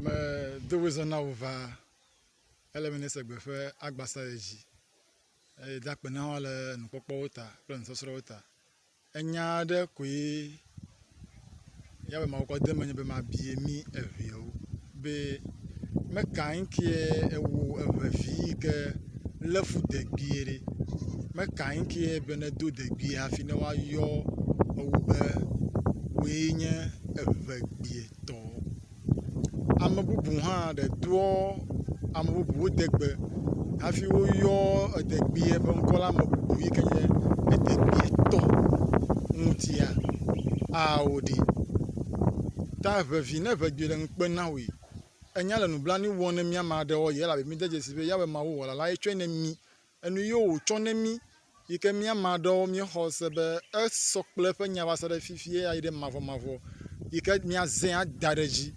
Me do be zɔna wo va ele be ne se gbe ƒe agba sa ye dzi eye da akpe na wo le nukpɔkpɔwo ta kple nusɔsrɔ̃wo ta. Enya aɖe koe ya be mawo kɔ de menye be mabie mi eŋewo be me ka ŋkie ewo eve vi yi ke le fu degbie ɖe. Me ka ŋkie be ne do degbie hafi ne woayɔ ewo be woe nye evegbie. tɔ. Ame bubu hã ɖe toɔ ame bubuwo degbe hafi woyɔ edegbea ƒe ŋkɔ la me bubu yi ke nye edegbeatɔ ŋutia ao ɖi. Ta ŋevi ne ŋe dzɔe ɖe ŋukpe na wòe. Enya le nublanui wɔm na mí ame aɖewoa, elabe mìde dzesii be ya be Mawu Wɔla lae tsɔe na mí. Enu yio wòtsɔ ne mí yi ke mía mea ɖewo míexɔ se be esɔ kple eƒe nya va se ɖe fifi ye ayi ɖe mavɔmavɔ yi ke míazẽ ada ɖe edzi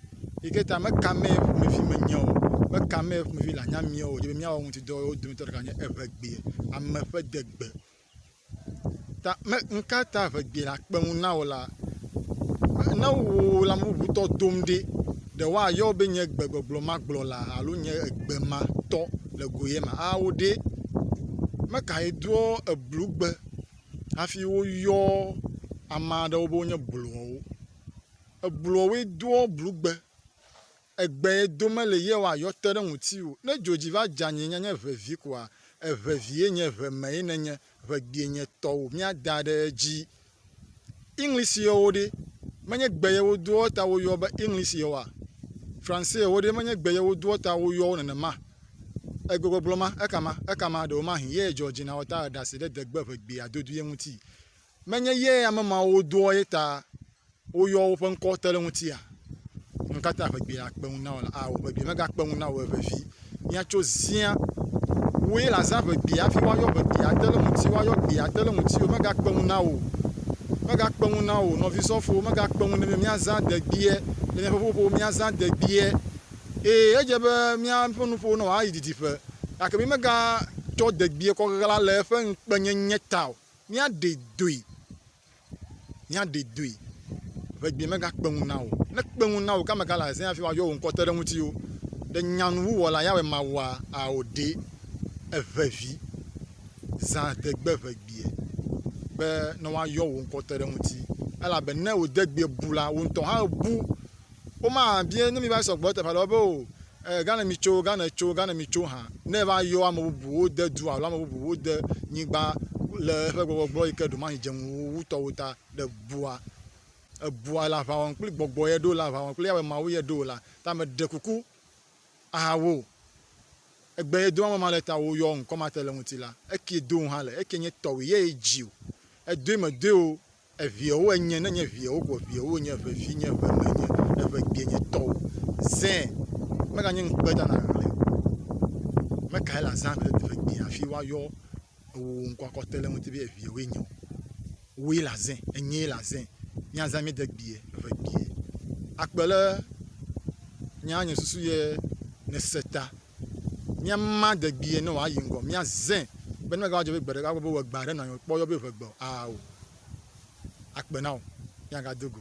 yi ke ta meka mee ƒomevi menye o. Meka mee ƒomevi le anya mía o. Wodze be míawɔ eŋuti dɔ ye wo dometɔ ɖeka nye eŋegbee, ame ƒe degbe. Ta me nu ka ta ŋe gbe nakpe ŋu na wò la? Ne wò lame bubutɔ dom ɖi ɖe woayɔ wò be nye gbegbɔgblɔ ma gblɔla alo nye egbe ma tɔ le go ye ma awo ɖe. Ame kae doa eblugbe hafi woyɔ ame aɖewo be wonye blɔwo? Eblɔwoe doa blugbe. Egbee do mele Yehowa yɔte ɖe ŋutiwò. Ne dzo dzi va dza nyinye nye ʋe vi koa, eʋe vie nye ʋe mee nènye, ʋe gbie nye tɔwò míada ɖe edzi. English yɔwo ɖe? Menye gbe ye wodoa ta woyɔ be English yɔwoa? Francais yɔwo ɖe? Menye gbe ye wodoa ta woyɔ wo nenema? Egbegbɔgblɔ ma, ekama, ekama, ɖewomahĩ, yee Georgina wɔ ta eɖasiɖedegbe ʋe gbia dodoea ŋuti. Menye ye ame mawo doa ye ta woyɔa woƒe ŋkɔ te ɖe ŋutia? Nu ka ta ƒe gbeɖe akpe ŋu na wò la? Ao, ƒe gbeɖe megakpe ŋu na wò eve vi. Míatso zia. Wòe la zã ƒe gbeɖe hafi woayɔ ƒe gbeɖe ate ɖe ŋuti, woayɔ gbeɖe ate ɖe ŋuti o. Megakpe ŋu na wò. Megakpe ŋu na wò, nɔvi sɔfo, megakpe ŋu ne be míazã de gbeɖe le míaƒe ƒuƒoƒo me, míazã de gbeɖe. Ee, edze be míaƒe nuƒo nɔ ayi didiƒe. Gake mi mega tsɔ de gbeɖe kɔ ɣla le eƒe ŋukpenyenye ta o. Míaɖe doe, míaɖe doe, ʋegbee megakpe ŋu na wò. Ne ekpe ŋu na wò ke ame ka le azẽ hafi woayɔ wò ŋkɔ te ɖe ŋutiwò? Ɖe nyanuwuwɔla Yahweh mawɔa ao ɖe? Èʋe vi, zã degbe ʋegbee be ne woayɔ wò ŋkɔ te ɖe ŋuti, elabe ne wò degbeɛ bu la, wò ŋutɔ hã èbu. Woma bia ne mi va sɔgbɔ ɖe teƒe aɖe be o e, gane mi tso, gane tso, gane mi tso hã. Ne va yɔ ame bubuwo de du alo ame bubuwo de nyigba le eƒe gbɔgbɔgbɔ yi ke ɖomahi dze ŋu wo wutɔwo ta ɖe bua. Ebua le aʋa wɔm kple gbɔgbɔ ye ɖo le aʋa wɔm kple Yahweh Mawu ye ɖo la ta me ɖe kuku aha wo. Egbe ye do ame ma le ta wo yɔ ŋkɔ ma te le ŋuti la. Eki do hã le, eki nye tɔwui ye ye dzi o. Edoe me doe o. Eviɛwo enye, ne nye viɛwo koa, viɛwo nye, eve vinye, eve menye, eve gbie nye tɔwo. Zẽ mega nye ŋkpe ta na ɣle o. Me kae le azã gbe ɖe eve gbie hafi woa yɔ ewò ŋkɔ akɔ te le ŋuti be eviɛwoe nye o. Wòe le azẽ, enyee le azẽ. Mía zã mí de gbie, eve gbie. Akpe le nyea nye susu ye ne se ta. míama degbee ne wòayi ŋgɔ, míazẽ be ne megava dzɔ be gbe ɖeka gbɔ be wòagbe aɖe nɔ anyi wòkpɔ yɔ be ʋe gbe o, aa o, akpe na wò, míagado go.